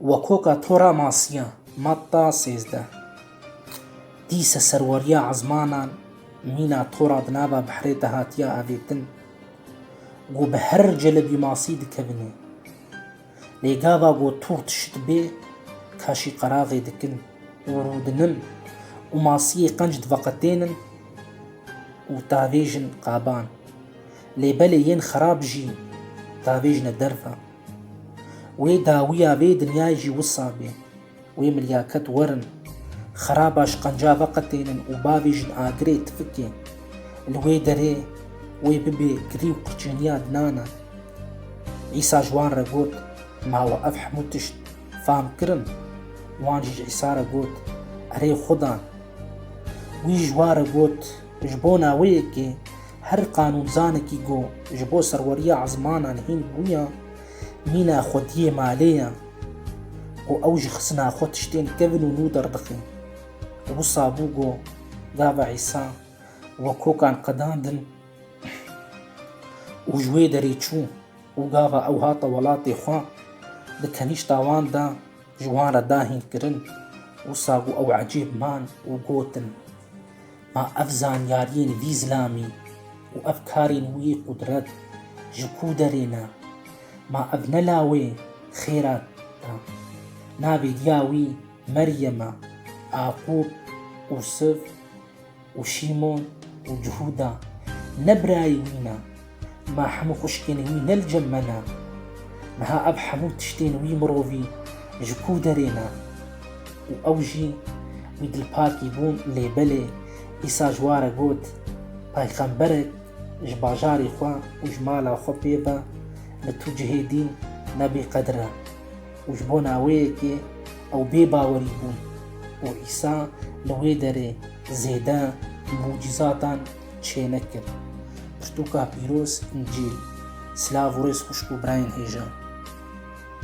Wakoka Tora Masiya, Matta sêzdeh, dîse serweriya ezmanan mîna Tora di nava bihrê de hatiye avêtin ku bi her celebî masî dikevine. Lê gava ku Tor tişt bê kaşî qeraxê dikin û rûdinin û masiyê qenc diveqetênin û davêjin qaban. Lê belê yên xerab jî davêjine derve. Wê dawiya vê dinyayê jî wisa be. Wê milyaket werin, xeraba şqenca veqetênin û bavê jin agirê tifikê. Li wê derê wê bibê kilî û qirçêniya dinan e. Îsa ji wan re got, Ma we ev hemû tişt fam kirin? Wan jî ji Îsa re got, Erê Xweda! Wî ji wan re got, Ji bona wê yekê Her qanûnzanekî ku ji bo serweriya ezmanan hîn bûya, mîna xwediyê malê ye û ew ji xisina xwe tiştên kevn û nû derdixe. Wisa bû ku gava Îsa we kokan qedandin û ji wê derê çû û gava ew hate welatê xwe di kenîşta wan de ji wan re dahîn kirin. Wisa ku ew ecêb man û gotin. Ma ev zanyariyên vî zilamî û ev karên wî qudret ji ku derê ne? Ma ev ne lawê xêra e? Navê diya wî Meryem e, Aqûb û Siv û Şîmon û Cihûda ne birayê wî ne? Ma hemû xwişkên wî ne li cem me ne. Niha ev hemû tiştên wî mirovî ji ku derê ne? Û ew jî wî dilpakî bûn lê belê Îsa ji war e got, Peyxemberek ji bajarê xwe û ji mala xwe pê be li tu cihê dîn ne bê qedir e. Û ji bo naweyekê ew bê bawerî bûn û Îsa li wê derê zêde mucîzatan çênek kir. Pirtûka pîroz, Încîl, silav û rêz xwişk û birayên hêja.